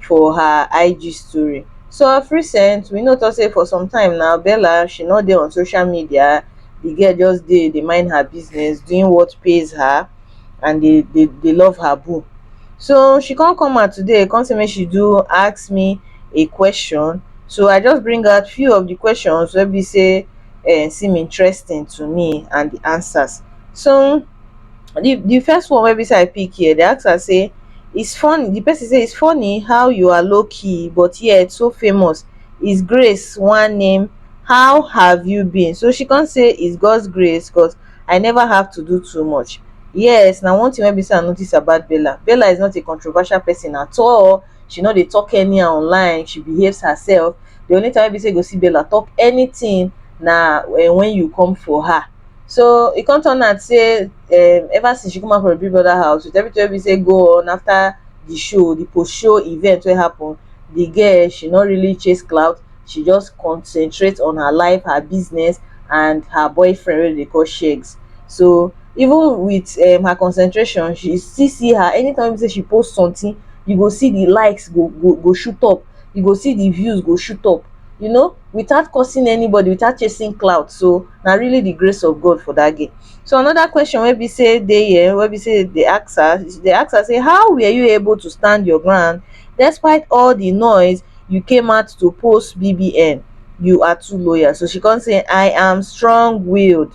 for her ig story so of recent we no tok say for some time now bella she no dey on social media di girl just dey dey mind her business doing what pays her and dey dey dey love her boo so she come come out today come say make she do ask me a question so i just bring out few of di questions wey be say um seem interesting to me and di answers so. the the first one wey be say I pick here, they ask am say, it's funny, the person say it's funny how you are low key but yet so famous. Is grace one name? How have you been? So she can't say it's God's grace because I never have to do too much. Yes, now one thing wey be say I notice about Bella. Bella is not a controversial person at all. She not dey talk anyhow online. She behaves herself. The only time wey be say you go see Bella talk anything na eh, when you come for her. so e come turn out sey um ever since she come out from Big Brother house with everything wey be sey go on after the show, the post show event wey happen the girl she no really chase clout she just concentrate on her life, her business and her boyfriend wey dem dey call Sheggz so even with um her concentration she still see her anytime wey be sey she post something you go see the likes go go go shoot up you go see the views go shoot up you know without causing anybody without chasing clout so na really the grace of God for that girl. So another question wey be say dey here wey be say dey ask her dey ask her say how were you able to stand your ground despite all the noise you came out to post BBN you are too loyal so she come say I am strong willed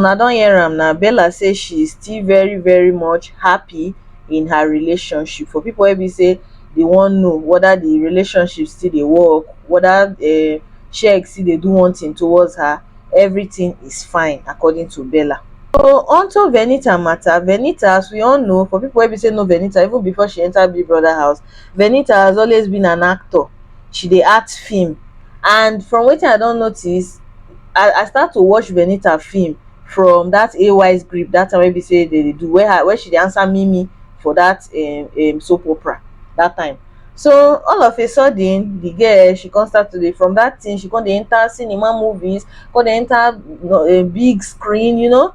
una don hear am na bella say she still very very much happy in her relationship for people wey be say dey wan know whether the relationship still dey work whether um sheg still dey do one thing towards her everything is fine according to bella so onto venita matter venita as we all know for people wey be say know venita even before she enter big brother house Venita has always been an actor, she dey act film and from wetin I don notice, I I start to watch Venita film from dat AY script dat time wey be sey dem dey do where her where she dey answer Mimi for dat um um soap opera dat time. So all of a sudden de girl she come start to dey from dat thing she come dey enter cinema movies, come dey enter um big screen you know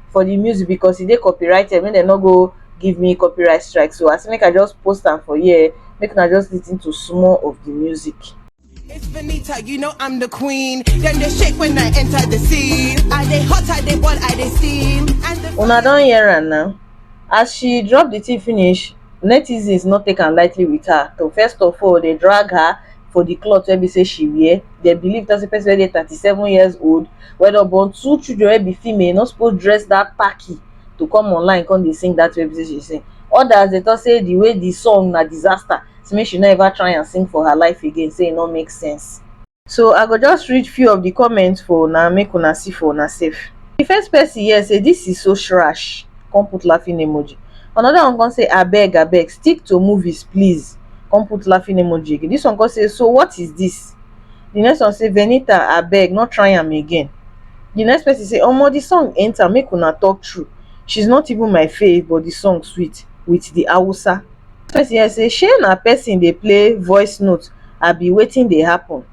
for the music because e dey copyrighted make dem no go give me copyright strike so I say make I just post am for here make una just listen to small of the music. It's Benita, you know I'm the queen. Then they shake when I enter the scene. I they hot, I they ball, I they steam. And the Una don hear am now. As she drop the thing finish, netizens no take am lightly with her. To first of all, they drag her for the cloth wey be say she wear. dem believe talk say person wey dey thirty seven years old wey don born two children wey be female no suppose dress that packy to come online come dey sing that way wey be say she dey sing others dey talk say the way the song na disaster say make she no ever try am sing for her life again say e no make sense so i go just read few of the comments for una make una see for una sef the first person here say this is so shrash come put laughing emoji another one come say abeg abeg stick to movies please come put laughing emoji again this one come say so what is this the next one say venita abeg no try am again the next person say omo the song enter make una talk true she's not even my fave but the song sweet with the hausa person here say shey na person dey play voice note abi wetin dey happen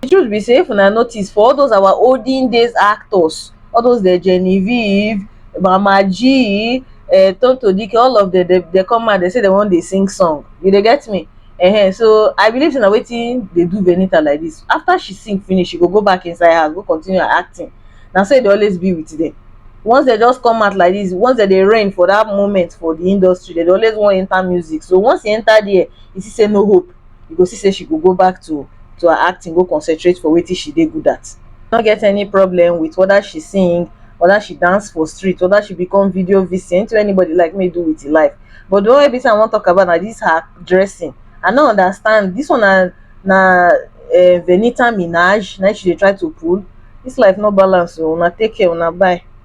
the truth be sey if una notice for all those our olden days actors all those the Genevieve Mama G uh, Tonto Dike all of them they, they come out they say they wan dey sing song you dey get me uh-huh. so I believe say na wetin dey do Venita like this after she sing finish she go go back inside house go continue her acting na so e dey always be with them once they just come out like this once they dey reign for that moment for the industry they dey always wan enter music so once e enter there e see say no hope you go see say she go go back to to her acting go concentrate for wetin she dey good at no get any problem with whether she sing whether she dance for street whether she become video vc anything anybody like me do with his life but the one wey be say i wan talk about na this her dressing i no understand this one na na um venita minaj na she dey try to pull this life no balance o una take care una bye.